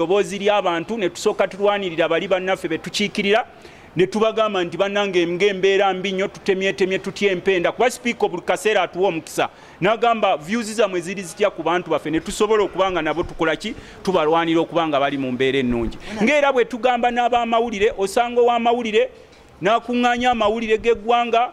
ddoboozi ly'abantu ne tusooka tulwanirira bali bannaffe be tukiikirira ne tubagamba nti bannange nga embeera mbi nnyo tutemyetemye tutya empenda kuba sipiika buli kaseera atuwa omukisa n'agamba vyuzi zammwe ziri zitya ku bantu baffe ne tusobola okuba nga nabo tukola ki tubalwanira okuba nga bali mu mbeera ennungi ng'era bwe tugamba n'abamawulire osanga ow'amawulire n'akuŋŋaanya amawulire g'eggwanga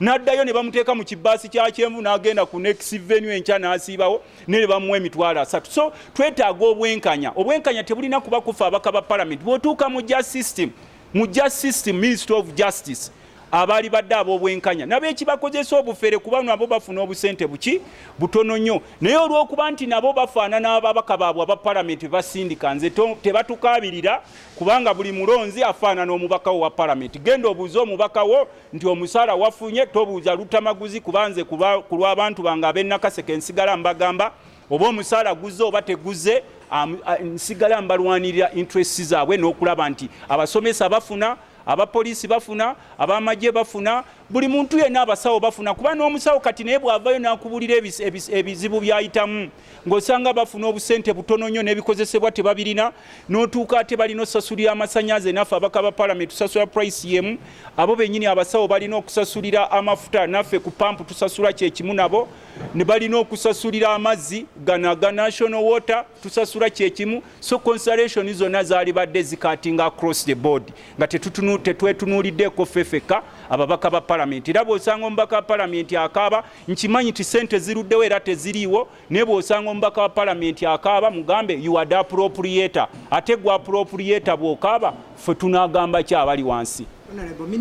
n'addayo ne bamuteeka mu kibaasi kya kyenvu n'agenda ku next venue enkya n'asiibawo ne bamuwa emitwalo asatu so twetaaga obwenkanya obwenkanya tebulina kuba kufa abaka ba palamenti bw'otuuka mu ja system mu ja system ministry of justice abaali badde ab'obwenkanya nabo ekibakozesa obufere kuba nabo bafuna obusente buki butono nnyo naye olw'okuba nti nabo bafaanana ababaka baabwe aba palamenti bebasindika nze tebatukaabirira kubanga buli mulonzi afaanana omubakawo wa palamenti genda obuuze omubakawo nti omusaala wafunye tobuuza lutamaguzi kuba nze ku lw'abantu bange ab'e Nakaseke nsigala mbagamba oba omusaala guzze oba teguzze nsigala mbalwanirira interest zaabwe n'okulaba nti abasomesa bafuna abapoliisi bafuna abamagye bafuna buli muntu yenna abasawo bafuna kuba n'omusawo kati naye bw'avayo n'akubulira ebizibu by'ayitamu ng'osanga bafuna obusente butono nnyo n'ebikozesebwa tebabirina n'otuuka ate balina osasulira amasanyaze naffe abaka ba palamenti tusasula price yemu abo bennyini abasawo balina okusasulira amafuta naffe ku pampu tusasula kyekimu nabo ne balina okusasulira amazzi gana ga national water tusasula kyekimu so consulation zonna zaalibadde zikatinga across the board nga tetwetunuuliddeko fefeka ababaka ba palamenti era bw'osanga omubaka wa palamenti akaaba nkimanyi ti sente ziruddewo era teziriiwo naye bw'osanga omubaka wa palamenti akaaba mugambe yuwade apuropuliyeeta ate gwa apuropuliyeeta bw'okaaba ffe tunaagamba ki abali wansi